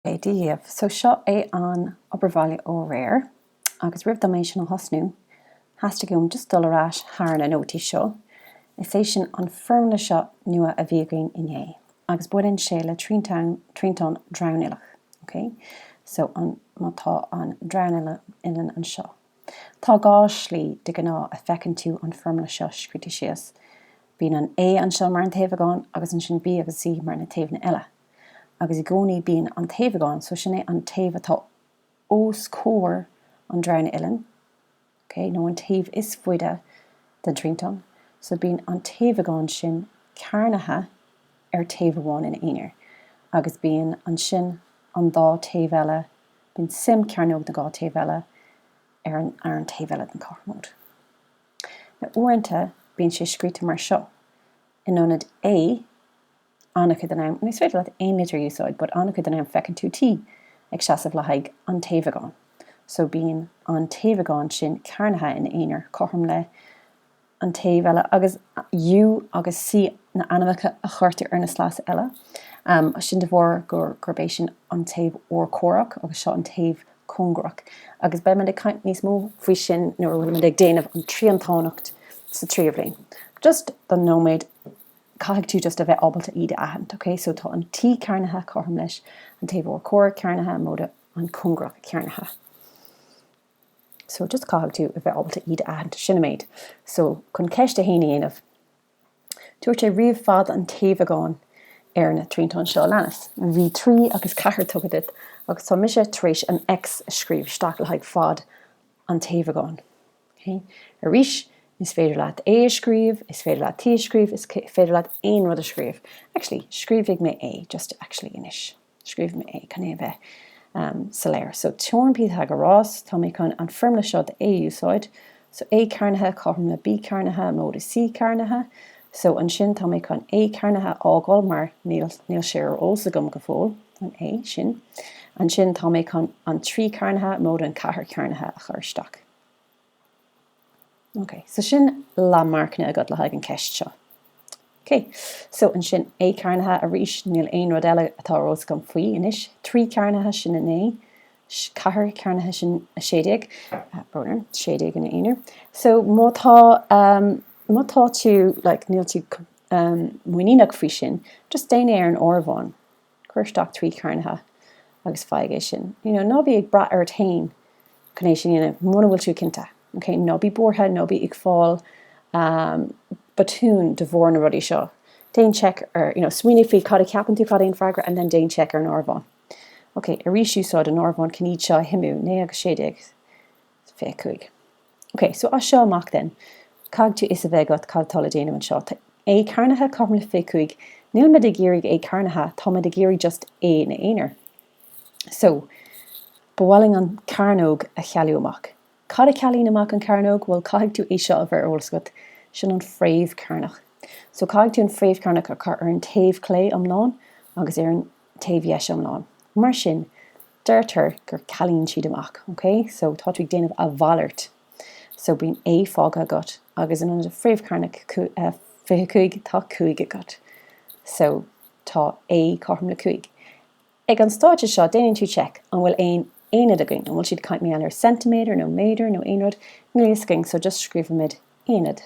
é díobh. So seo é an obair bhaile ó aréir agus roimh dom é sin a thosnú, theastaigh uaim just dul ar ais thar na nótaí seo, is é sin an foirmle seo nua a bhí againn inné agus baineann sé le triantán, triantán dronuilleach, ok. So an, má tá an dronuilleann anseo, tá dhá slí de ghnáth a feiceann tú an foirmle seo scríte síos, bíonn an A anseo mar an taobhagán agus ansin B agus C mar na taobhanna eile. agus i gcónaí bíonn an taobhagán, so sin é an taobh atá os comhair an dronuilleann, ok, nó an taobh is faide den triantán, so bíonn an taobhagán sin cearnaithe ar taobh amháin ina aonar, agus bíonn ansin an dá taobh eile, bíonn suim cearnóg na dhá taobh eile ar an ar an taobh eile den chothromóid. Now, uaireanta bíonn sé scríte mar seo, in ionad A, an-chuid den am, nó is féidir leat aon litir a úsáid, but an-chuid den am feiceann tú T ag seasamh le haghaidh an taobhagáin. So bíonn an taobhagán sin cearnaithe in aonar cothrom le an taobh eile agus U agus C na ainmneacha a chuirtear ar na sleasa eile. Sin de bharr gurb é sin an taobh urchomhaireach agus seo an taobh cóngarach. Agus beimid ag caint níos mó faoi sin nuair a bhfuilimid ag déanamh an triantánacht sa tríú bhliain. Just don nóiméad, caithfidh tú just a bheith ábalta iad a aithint, ok? So tá an T cearnaithe, cothrom leis an taobh urchomhaireach, cearnaithe, móide an cóngarach cearnaithe. So just caithfidh tú a bheith ábalta iad a aithint. Sin an méid. So chun ceist a haon a dhéanamh, dúirt sé ríomh fad an taobhagáin ar na triantáin seo a leanas. Bhí trí agus ceathair tugtha duit agus tá mise tar éis an X a scríobh isteach le haghaidh fad an taobhagáin. Ok? Arís, is féidir leat A a scríobh, is féidir leat T a scríobh, is féidir leat aon rud a scríobh. Actually, scríobhfaidh mé A, just actually, anois. Scríobhfaidh mé A, chun é a bheith soiléir. So, teoirim Pythagoras, tá mé chun an foirmle seo a úsáid. So, A cearnaithe cothrom le B cearnaithe móide C cearnaithe. So, ansin, tá mé chun A cearnaithe a fhágáil mar níl, níl sé ar eolas agam go fóill, an A sin. Ansin, tá mé chun an trí cearnaithe móide an ceathair cearnaithe a chur isteach. OK, so sin lánmharcanna agat le haghaidh an ceist seo. OK, so ansin A cearnaithe arís, níl aon rud eile atá ar eolas agam faoi anois. Trí cearnaithe, sin 9. Ceathair cearnaithe, sin 16. Boner, 16 ina aonar. So má tá, um, má tá tú, like, níl tú um, muiníneach faoi sin, just déan é ar an áireamhán. Cuir isteach trí cearnaithe agus faigh é sin. You know, ná bí ag brath ort fhéin chun é sin a dhéanamh muna bhfuil tú cinnte. OK? Ná bí buartha, ná bí ag fáil ahm, botún de bharr na rudaí seo. Déan check ar, you know, smaoinigh faoi cad a cheapann tú, cad é an freagra and then déan check ar an áireamhán. OK, arís úsáid an áireamhán, chun iad seo a shuimiú, naoi agus sé déag. 25. OK, so as seo amach then, caithfidh tú fios a bheith agat cad atá le déanamh anseo. Tá A cearnaithe cothrom le 25. Nílimid ag iarraidh A cearnaithe, táimid ag iarraidh just A ina aonar. So, ba mhaith linn an chearnóg a chealú amach. Cad a chealaíonn amach an chearnóg? Bhuel, caithfidh tú é seo a bheith ar eolas agat, sin an fhréamh chearnach. So, caithfidh tú an fhréamh chearnach a chur ar an taobh chlé iomlán agus ar an taobh dheis iomlán. Mar sin, deirtear go gcealaíonn siad amach, ok? So, tá tú ag déanamh a mhalairt. So, bíonn A fágtha agat, agus in ionad fréamh chearnach 25, tá 5 agat. So, tá A cothrom le 5. Ag an staid seo, déanann tú check, an bhfuil aon aonaid againn? An bhfuil siad ag caint mí-anair ar centimeter, nó méadar, nó aon rud? Níl a fhios againn, so just scríobhaimid aonaid.